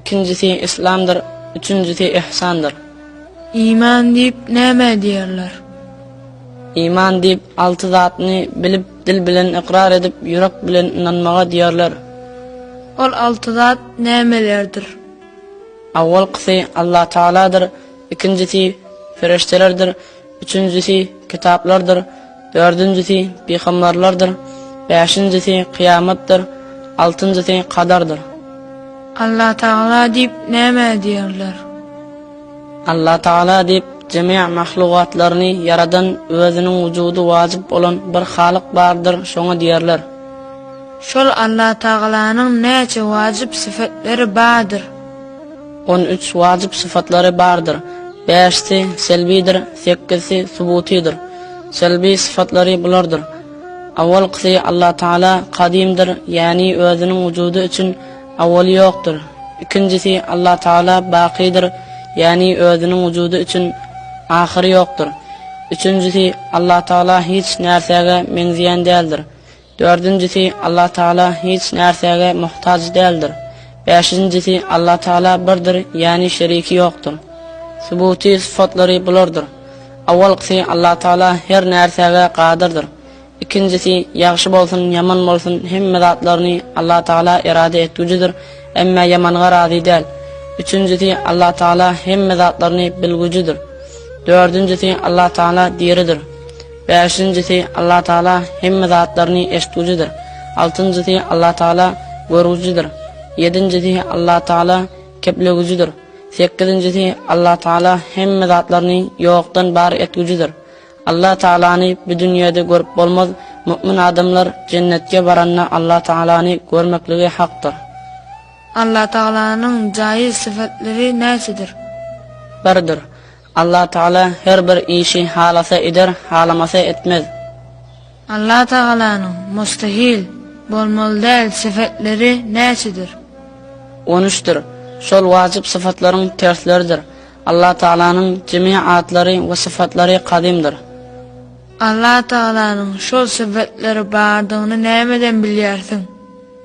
Ikinjisi yslamdyr, üçünjisi yhsandyr. Iman diýip näme diýerler? Iman diýip alty zatny bilip dil bilen ykrar edip ýürek bilen ynanmaga diýerler. Ol alty zat nämelerdir? Awwalkysy Alla Tagaladyr, ikinjisi ferişdelerdir, Üçünjisi, kitaplardyr. Dördünjisi, pygamberlerdir. Bäşinjisi, kyýamatdyr. Altynjysy, kadardyr. Alla Tagala diýip näme diýerler? Alla Tagala diýip jemi mahlugatlaryny ýaradan özüniň wujudy wajyp bolan bir Halyk bardyr, şoňa diýerler. Şol Alla Tagalanyň näçe wajyp syfatleri bardyr? On üç wajyp sypatlary bardyr, bäşisi, selbidir, sekizisi, subutydyr. Selbi sypatlary bulardyr, Awalkysy, Allatagala kadymdyr, ýäni özüniň wujudy üçin awaly ýokdur. Ikinjisi, Allatagala bakydyr, ýäni özüniň wujudy üçin ahyry ýokdur. Üçünjisi, Allatagala hiç närsäge meňzeýän däldir, Dördünjisi, Allah Tagala hiç närsäge muhtaç däldir. Bäşinjisi, Allah Tagala birdir, ýagny şeriki ýokdur. Subuty sypatlary bulardyr. Awalkysy, Allah Tagala her närsäge gadyrdyr. Ikinjisi, ýagşy bolsun, ýaman bolsun, hemme zatlaryny Allah Tagala erada etgujidir, emma ýamanga razy däl. Üçünjisi, Allah Tagala hemme zatlaryny bilgujidir. Dördünjisi, Allah Tagala diridir. Bäşinjisi, Allah Tagala hemme zatlaryny eşitgujidir. Altynjysy, Allah Tagala görgujidir. Ýedinjisi, Allah Tagala keplegujidir. Sekizinjisi, Allah Tagala hemme zatlaryny ýokdan bar etgujidir. Allah Tagalany bu dünýede görüp bolmaz, mu'min adamlar jennetge baranda Allah Tagalany görmekligi hakdyr. Allah Tagalanyň jaýyz sypatlary näçedir? Birdir. Allah Tagala her bir işi halasa eder, halamasa etmez. Allah Tagalanyň, mustahil, bolmaly däl, sifetleri näçedir? On üçdir. Şol wajyp syfatlaryň tersleridir. Allah Tagalanyň jemi atlary we syfatlary kadymdyr. Allah Tagalanyň şol syfetleri bardygyny nämeden bilýärsiň?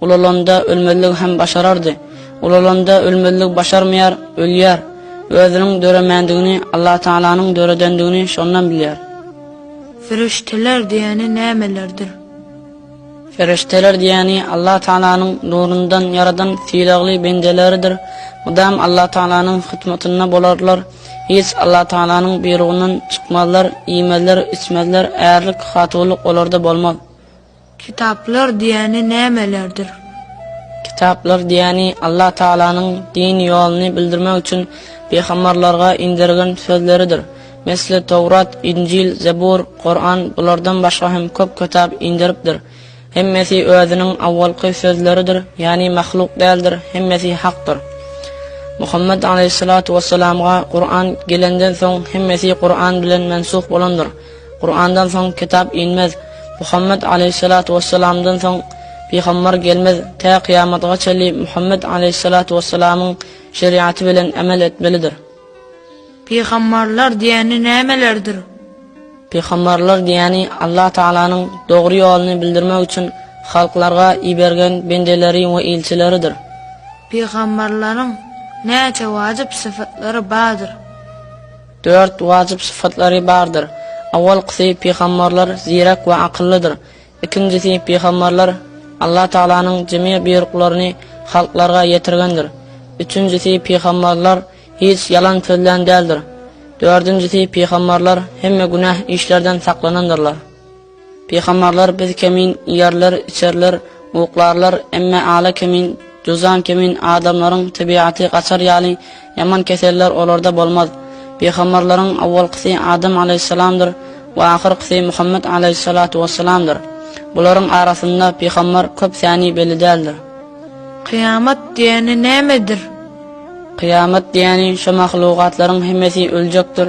Ulalanda ölmezligi hem başarardy. Ulalanda ölmezligi başarmaýar, ölýär. Özüniň döremändigini, Allatagalanyň döredendigini şondan bilýär. Perişdeler diýeni nämelerdir? Perişdeler diýeni Allatagalanyň nurundan ýaradan sylagly bendeleridir. Mydam Allatagalanyň hyzmatynda bolarlar. Hiç Allatagalanyň buýrugyndan çykmazlar, iýmezler, içmezler, ärlik, hatuwlyk olarda bolmaz. Kitaplar diýýäni nämelerdir? Kitaplar diýýäni Allah Tagalanyň din ýoluny bildirmek üçin pygambarlarga indergen sözleridir. Mesle Towrat, Injil, Zebur, Kuran bulardan başga hem köp kitap inderipdir. Hemmesi özüniň awwalky sözleridir, ýagny mahluk däldir, hemmesi hakdyr. Muhammet alaýhyssalatu wessalamga Kuran gelenden soň hemmesi Kuran bilen mensuh bolandyr. Kurandan soň kitap inmez, Muhammet aleýhissalatu wessalamdan soň pygambar gelmez, tä kyýamatga çenli Muhammet aleýhissalatu wessalamyň şeriaty bilen emel etmelidir. Pygambarlar diýeni nämelerdir? Pygambarlar diýeni Allah Tagalanyň dogry ýoluny bildirmek üçin halklarga ibergen bendeleri we ilçileridir. Pygambarlaryň näçe wajyp sypatlary bardyr? Dört wajyp sypatlary bardyr. Awalkysy, pygamberler zirek we akyllydyr. Ikinjisi, pygamberler Allah Tagalanyň jemi buýruklaryny halklarga ýetirgendir. Üçünjisi, pygamberler hiç ýalan sözlän däldir. Dördünjisi, pygamberler hemme günäh işlerden saklanandyrlar. Pygambarlar biz kemin, iýerler, içerler, uklarlar, emme ala kemin, juzan kemin adamlaryň tebigaty gaçar ýaly ýaman keseller olarda bolmaz. Pygambarlaryň awwalkysy Adam alaýhyssalamdyr we ahyrkysy Muhammet alaýhyssalatu wessalamdyr. Bularyň arasynda pygambar köp säni belli däldir. Kyýamat diýeni nämedir? Kyýamat diýeni şo mahlugatlaryň hemmesi öljekdir.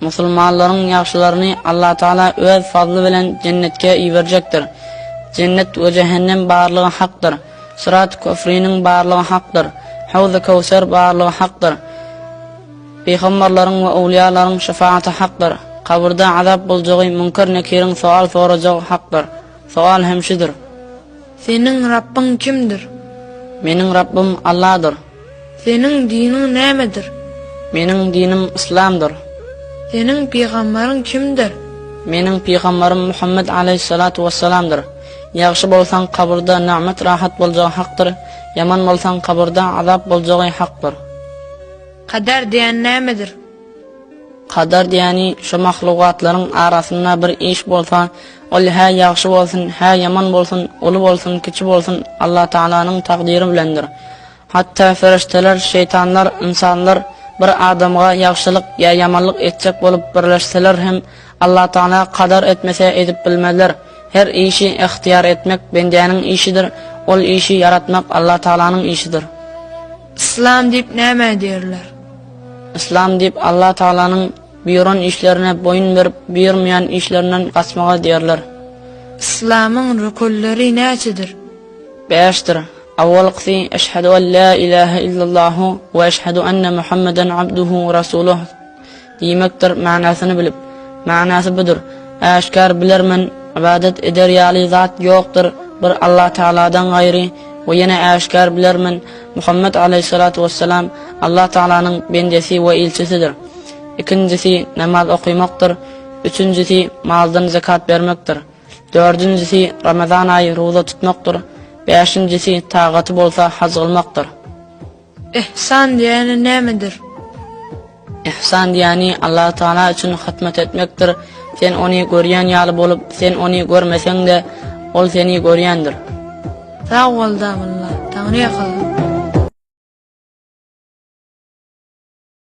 Musulmanlaryň ýagşylaryny Allatagala öz fazly bilen jennetge iberjekdir. Jennet we jähennem barlygy hakdyr. Syrat köpriniň barlygy hakdyr. Hawzy Köwser barlygy hakdyr. Pygamberleriň we owliýalaryň şefagaty hakdyr. Kabyrda azap boljagy, Münker-Nekiriň sowal sorajagy hakdyr. Sowal hem şudur. Seniň Rabbyň kimdir? Meniň Rabbym Alladyr. Seniň diniň nämedir? Meniň dinim Yslamdyr. Seniň pygambaryň kimdir? Meniň pygambarym Muhammet aleýhissalatu wessalamdyr. Ýagşy bolsaň kabyrda nagmat rahat boljagy hakdyr, ýaman bolsaň kabyrda azap boljagy hakdyr. Kader diýen nämedir? Kadar diýeni şu mahlugatlaryň arasynda bir iş bolsa, ol hä ýagşy bolsun, hä ýaman bolsun, uly bolsun, kiçi bolsun, Allatagalanyň takdyry bilendir. Hatda ferişdeler, şeýtanlar, ynsanlar bir adamga ýagşylyk ýa ýamanlyk etjek bolup birleşseler hem, Allatagala kadar etmese edip bilmezler. Her işi yhtyýar etmek bendäniň işidir, ol işi ýaratmak Allatagalanyň işidir. Islam diýip nämä diýerler? Yslam diýip Allah Tagalanyň buýuran işlerine boýun berip buýurmaýan işlerinden gaçmaga diýerler. Yslamyň rükünleri näçedir? Bäşdir. Awwalkysy Eşhedü en la ilahe illallahu we eşhedü enne Muhammeden abduhu we rasuluh diýmekdir manysyny bilip. Manysy budur, Äşgär bilermen, ybadat eder ýaly zat ýokdur bir Allah Tagaladan gaýry we ýene äşgär bilermen, Muhammet alaýhyssalatu wessalam Allah Tagalanyň bendesi we ilçisidir. Ikinjisi namaz okymakdyr, üçünjisi maldan zekat bermekdir, dördünjisi Ramazan aýy ruza tutmakdyr, bäşinjisi tagaty bolsa haj gylmakdyr. Ihsan diýeni nämedir? Ihsan diýýäni Allahu tagala üçin hyzmat etmekdir. Sen ony görýän ýaly bolup, sen ony görmeseň-de, ol seni görýändir. Sag bol Dabylla. Taňryýa salawat.